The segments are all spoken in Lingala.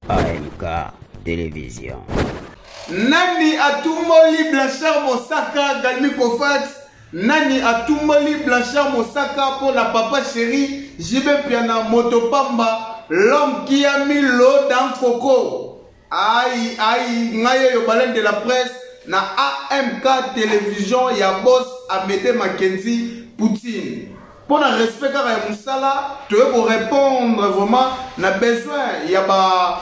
AMK Television. Nani atumboli Blanchard Mosaka Galmi Kofax Nani atumboli Blanchard Mosaka mpo na papa chéri JB Piana moto pamba l'homme qui a mis l'eau dans coco aïe aïe ngai oyo baleine de la presse na AMK Television ya boss Amede Mackenzie Poutine mpo na respect kaka ya mosala toye korepondre vraiment na besoin ya ba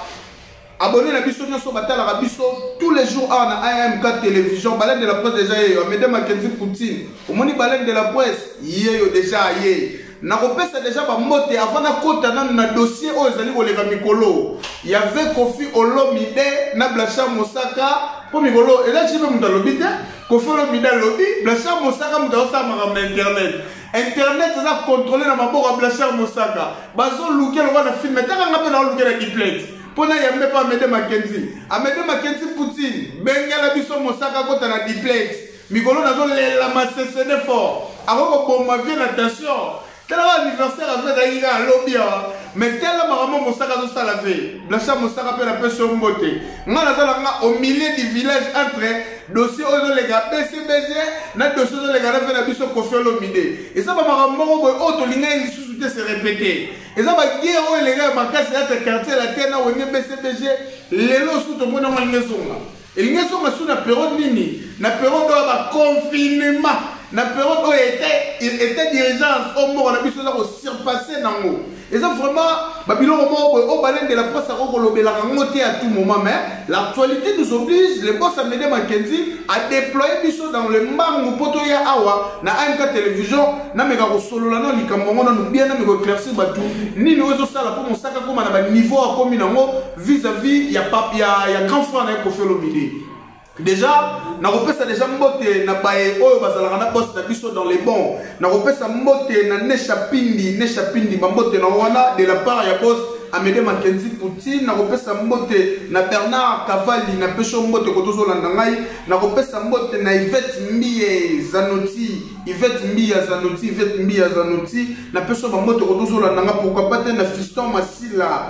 abonné na biso nyonso batalaka biso tous les jours awa na amk télévision baleine de la presse déjà yeyo amede makenzi poutine omoni baleine de la presse yeyo déjà aye nakopesa deja bambote avant nakota nanu na dossier oyo ezali koleka mikolo ya ve kofi olomide na blanchard mosaka mpo mikolo elaki mpe moto alobi te Koffi Olomide alobi Blanchard Mosaka moto azosala makambo na internet internet eza contrôle na maboko ya Blanchard Mosaka bazolukia lokola na filme taka nga mpe naolukia na diplete mpo na yambe mpe amede makenzi amede makenzi poutine bengela biso mosaka akota na diplete mikolo nazolela masesede fort akoki koboma vie na tension tala ba anniversaire azo ezalaki kaka lobi awa mais tala makambo mosaka azosala ve blancha mosaka mpe napesi yo mbote ngai naza na nga au milieu du village entre dossier oyo ezoleka bcbg na dossier ezoleka na ve na biso kofi olomide eza bamakambo moko boye oyo tolingaki lisusu te se repete eza bagere oyo elekaka makasi ata quartier latin na wenge bcbg lelo osusu tomoni yango alingi ezonga Elingi ezonga sous na periode nini? Na periode oyo ba confinement, na periode oyo était était d'urgence au moko na biso eza ko surpasser nango. Eza vraiment ba biloko moko boye oyo balende la presse ako kolobelaka ngo te à tout moment mais l'actualité nous oblige le boss Amede Mackenzie a déployer biso dans le mbangu mpo toya awa na AMK télévision nameka kosolola na likambo yango nanu bien nameka éclaircir bato nini oyo ezosala mpo mosaka akoma na ba niveau akomi nango vis à vis ya, pap, ya, ya grand frère na ye kofi olomide déjà nakopesa déjà mbote na baye oyo bazalaka na poste na biso dans les bons nakopesa mbote na nesha pindi nesha pindi bambote na wana de la part ya bos amede makenzi poutine nakopesa mbote na bernard kavali napesi yo mbote koto ozolanda ngai nakopesa mbote na ivete mbiye zanoti ivete mbiya zanoti ivete mbiya zanoti napesi yo bambote koto ozolanda ngai pourkua pa te na fiston masila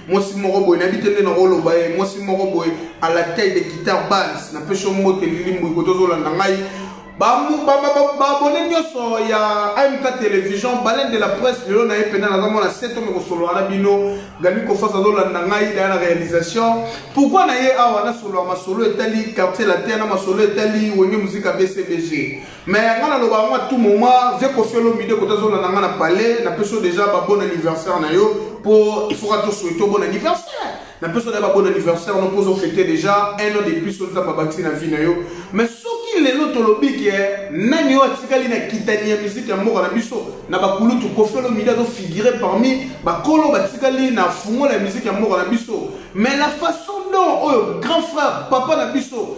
mwasi moko boye nayebi te nde nakoloba ye mwasi moko boye à la taille de guitare base napesi yo mbote lilimbu iko tozolanda ngai babone nyonso ya amk télévision baleine de la presse lelo na ye mpena naza mwana seto mekosolola na bino gami kofas azolanda ngai daya na réalisation pourkui na ye awa nasolola masolo etali quartier latin na masolo etali wenge muzika bcbg mais yanga na loba nga tout moment vie kofi olomide kota zola na nga na palais na peso déjà ba bon anniversaire na yo po il faut ka to souhaiter bon anniversaire na peso na ba bon anniversaire no pozo fêter déjà un an de plus oza ba bati na vie na yo mais soki lelo tolobi ke nani oyo atikali na kitani ya musique ya mboka na biso na bakulutu kofi olomide azo figure parmi bakolo batikali na fungola ya musique ya mboka na biso mais la façon dont oyo grand frère papa na biso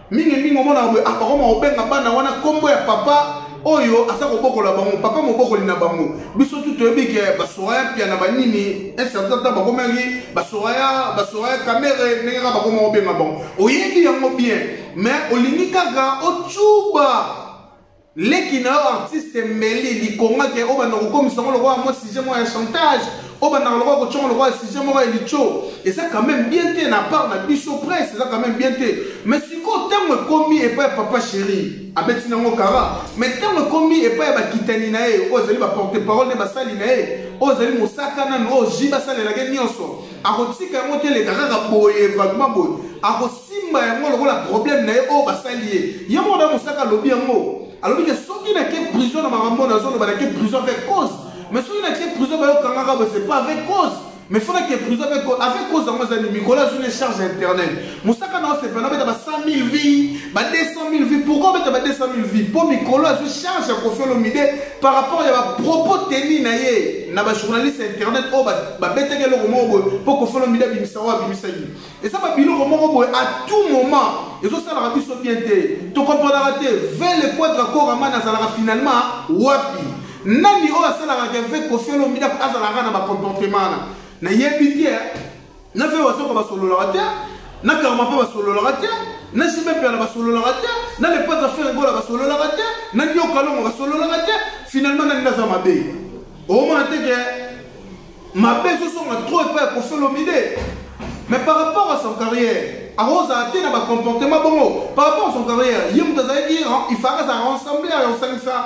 mingi mingi omonaka boye akokoma kobenga bana wana nkombo ya papa oyo aza kobokola bango papa mobokoli na bango biso tu toyebi ke basoraya mpiana banini incertain ntan bakomaki basoraya basoraya kamere ndenge kaka bakoma kobenga bango oyebi yango bien mais olingi kaka ocuba leki na yo artiste mbeli likonga ke obanda kokomisa ngo lokola mwa sujet moko ya chantage obandaka lokola kotyongo lokola sujet moko ya litio eza quand même bien te na part na biso presse eza quand même bien te mais sikoyo ntango ekomi epai ya papa chéri abeti nango kara mais ntango ekomi epai ya bakitani na ye oyo ezali baporte parole nde basali na ye oyo ezali mosaka nanu oyo ji basalelaki nyonso akotika yango te eleka kaka boye vagma boye akosimba yango lokola problème na ye oyo oh, basali ye ye moko na mosaka alobi yango alobi ke soki nake prison na makambo nazoloba nake prison avec cause mais soki nake prison bayokangaka boye c'est pas avec cause mais fona ke prison avec cause yango ezali mikolo azwi na charge internet mosaka na osepela obeta ba 100 000 vie ba 200 000 vie pourkoi obeta ba 200 000 vie mpo mikolo azwi charge ya kofi olomide par rapport ya bapropos teni na ye na bajournaliste ya internet oyo babetaki eloko moko boye mpo kofi olomide abimisa oyo abimisaki eza babiloko moko boye à tout moment ezosalaka biso bien te tokomprenaka te vele quadra koraman azalaka finalement wapi nani oyo asalaka keve kofi olomide azalaka na bacomportement wana nayebi te na fe wazoka basololaka te na karma mpe basololaka te na jime mpiana basololaka te na lepata fere gola basololaka te na nioka longo basololaka te finalement nani naza mabe omona te ke mabe ezosonga trop epai ya kofelomide mais par rapport à son carrière akozala te na bacomportement bongo par rapport à son carrière ye moto azalaki il faka azala ensemble ya kosangisa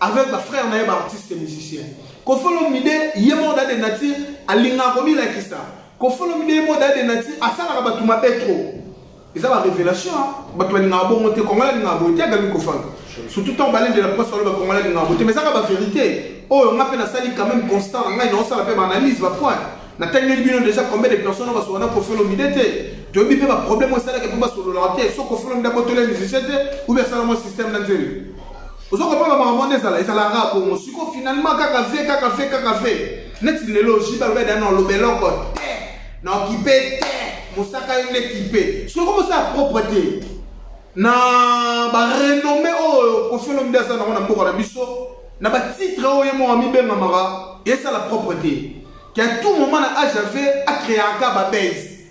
avec ba frère na ye ba artiste musicien kofolo mide ye moko da de nature alingaka komilakisa kofolo mide ye moko da de nature asalaka bato mabe trop eza ba révélation bato balingaka bongo te kongola alingaka boye te agami kofanga surtout ntango balendela mposa oloba kongola alingaka boye te mais ezaka ba vérité oyo oh, nga mpe nasali quand même constant na ngai naosala mpe baanalyse bapoint natangeli bino déjà combien de personnes oyo basolana kofolo mide te toyebi mpe baproblème oyo esalaka mpe basololaka te so kofolo mide abotoli ya musicien te ou bien asala mwa système na nzeli ozo kopona makambo nde ezala ezalaka bongo siko finalement kaka ve kaka ve kaka ve neti lelo jibe alobi adana oloba eloko te na okipe te mosaka yo nde kipe soki omosala propre te na barenomme oyo kofiolo mde aza nango na mboka na biso na batitre oyo ye moko amibengamaka esala propre te ke a tout moment na age ave acreaka babase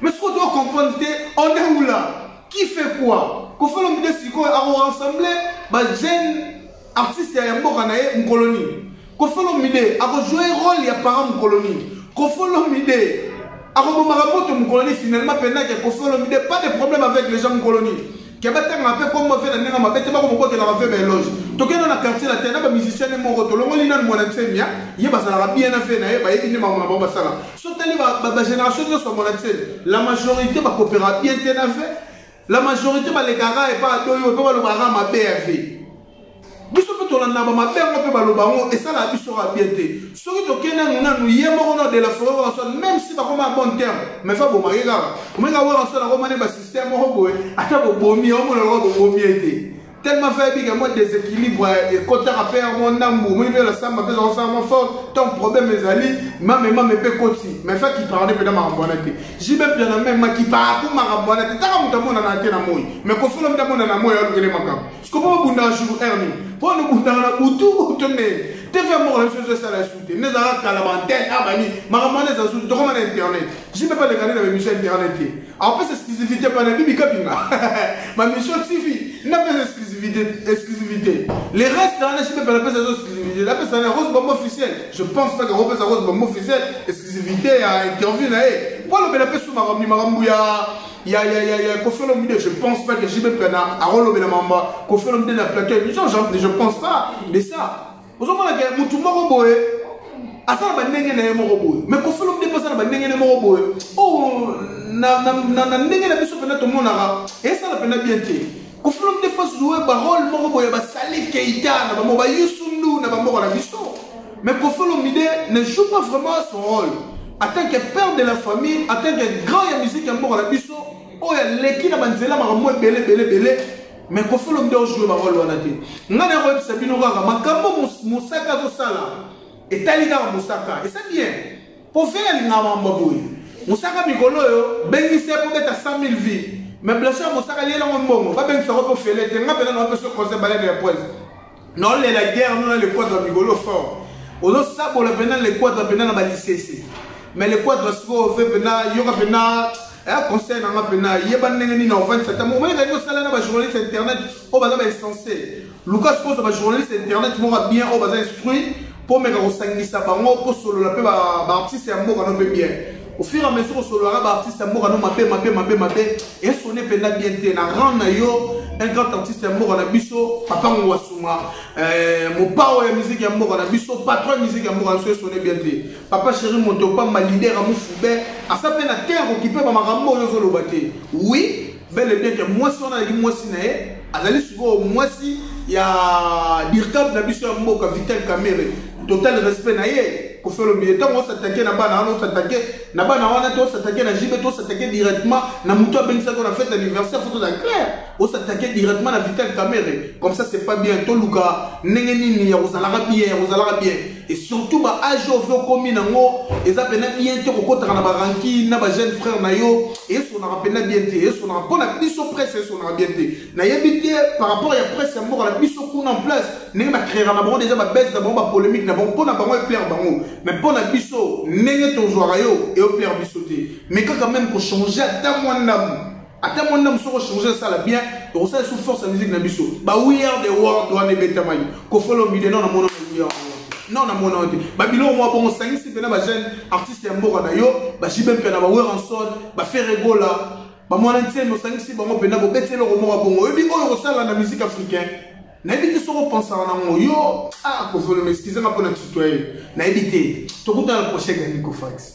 Mais sikoyo to comprendre te on est où là qui fait quoi Koffi Olomide sikoyo ako rassembler ba jeunes artistes ya mboka na ye mokolo nini Koffi Olomide ako jouer rôle ya parent mokolo nini Koffi Olomide akobomaka moto mokolo nini finalement pendant que Koffi Olomide pas de problème avec les gens mokolo nini ke batangaka mpe kombo fe na ndenge mabe te bakomobotelaka mpe baeloge tokenda na quartier na te na bamusicien ne moko tolongoli nanu mwana nsemia ye bazalaka bien na fe na ye bayebi nde makambo na bango basala sotali bagénération nyonso ya mwana nsemi la majorité bakopera bien te na fe la majorité balekaka epa adoyo mpe balobaka mabe ya vie biso mpe tolanda bamabe yango mpe baloba yango esalaka biso kaka bien te soki tokei nanu nanu ye moko na dela foret warason même si bakoma ya bon terme mais fa bomake kaka omeka warason akoma ne basystème moko boye ata bobomi ye omona lokola bobomi ye te tellement fa yebika mwa déséquilibre ekotaka mpe yango ndambu omoni mpe lasamba mpe zakosala mwa fort ntango problème ezali mame mame mpe koti mais fa kipaka nde mpenza makambo wana te jibe mpiana meme makipaka ko makambo wana te taka moto amonana te na moi mais kofolo mpe amonana moi alukele makambo sikopo bobundaka jour heure nini mpo wana obundaka na butu to nde tv moko na biso ezo esala esu te nde ezalaka kala baantene a bani makambo wana eza susu tokoma na internet jime mpe alekani na bamission ya internet te apesa exclusivité mpa na bibi kabinga bamission tv nde apesa exclusivité exclusivité les reste wana jime mpe napesa ezo exclusivité napesa na rose bombe officiel je pense pas que kopesa rose bombe officiel exclusivité ya interview na ye mpo alobela mpe su makambo makambo ya ya ya ya ya Koffi Olomide je pense pas que JB Prena akolobela mamba Koffi Olomide na plateau ya émission je, je pense pas de ça ozomona ke mutu moko boye aza na bandenge na ye moko boye mais Koffi Olomide mpe aza na bandenge na ye moko boye oh, na, na, na, na ndenge na biso mpenza tomonaka esala mpenza bien te Koffi Olomide fo zoe barole moko boye basali keita na bango bayusundu na bamboka na biso Mais Koffi Olomide ne joue pas vraiment son rôle. En tant que père de la famille, en tant que grand ya musique ya mboka na biso, oyo aleki na banzela makambo ebele ebele ebele, mais Koffi Olomide ojoue ba rôle wana te. Ngai na koyebisa bino kaka makambo mosaka azosala etali kaka mosaka. Esa bien. Po vele alingaka makambo boye. Mosaka mikolo oyo bengisi ye kobeta 100 000 vies. Mais blessure mosaka liela ngo mbongo. Babengisa ko po fele te. Ngai pena na opesa conseil balade ya poison. naolela guerre no na lekwatra mikolo fort ozosabola mpena lekwatra mpena na balisese me lekwatra sikoyo fe mpena yoka mpena eya eh, conseil nanga mpena yeba ndenge nini ofandisa ntango omoni ezali kosala na bajournaliste internet oyo baza bainsense luka sikoyo oza bajournaliste internet moko ya bien oyo baza instruit komeka kosangisa bango kosolola mpe baartiste ya mboka no mpe bien ofur a mesure osololaka baartiste ya mboka no mabe mabe mabe mabe esone mpenza bien te na rang na yo un grand artiste ya mboka na biso papa ngwasuma eh, mopao ya miziki ya mboka na biso patron ya miziki ya mboka na biso esone bien te papa chéri moto opamba lider ya mofube asa mpe na te akokipe bamakambo oyo ozoloba te oui bel et bien que mwasi wana azali mwasi na ye azali sikoyo mwasi ya dirkab na biso ya mboka vital camere total respect na ye kofelo mbiye ntango osatake na bana wana osatake na bana wana te osatake na jibe te osatake directement na moto abengisaki na fete anniversaire foto za claire osatake directement na vital camere comme ça c'est pas bien toluka ndenge nini ya kozalaka bien ya kozalaka bien et surtout ba age oyo mpe okomi nango eza mpena bien te kokotaka na barankine na bajeune frère na yo esonaka mpena bien te esonaka mpo na biso presse esonaka bien te nayebi te par rapport ya presse ya mboka na biso kuna en place ndenge bacreaka na bango deja babese na bango bapolémique na bango mpo na bango eplaire bango mais mpo na biso ndenge tozwaka yo eoplaire biso te mais kaka meme kochange ata mwa ndamu ata mwana mosusu okochange esala bien tokosala esu force ya musique na biso ba we are the world wana ebetamaki kofolo mbide no na mono na yo non na mona te babiloko mwa bongo osangisi mpena bajeune artiste ya mboka na yo bajibe mpe na baweranson baferegola bamwana ntieni osangisi bango mpena bobeti eloko moko bongo oyebi oyo okosala na musique africain nayebi te soki opensaka nango yo ah kovoloma eskizanga mpo na tutoye nayebi te tokutana prochain ya nicofax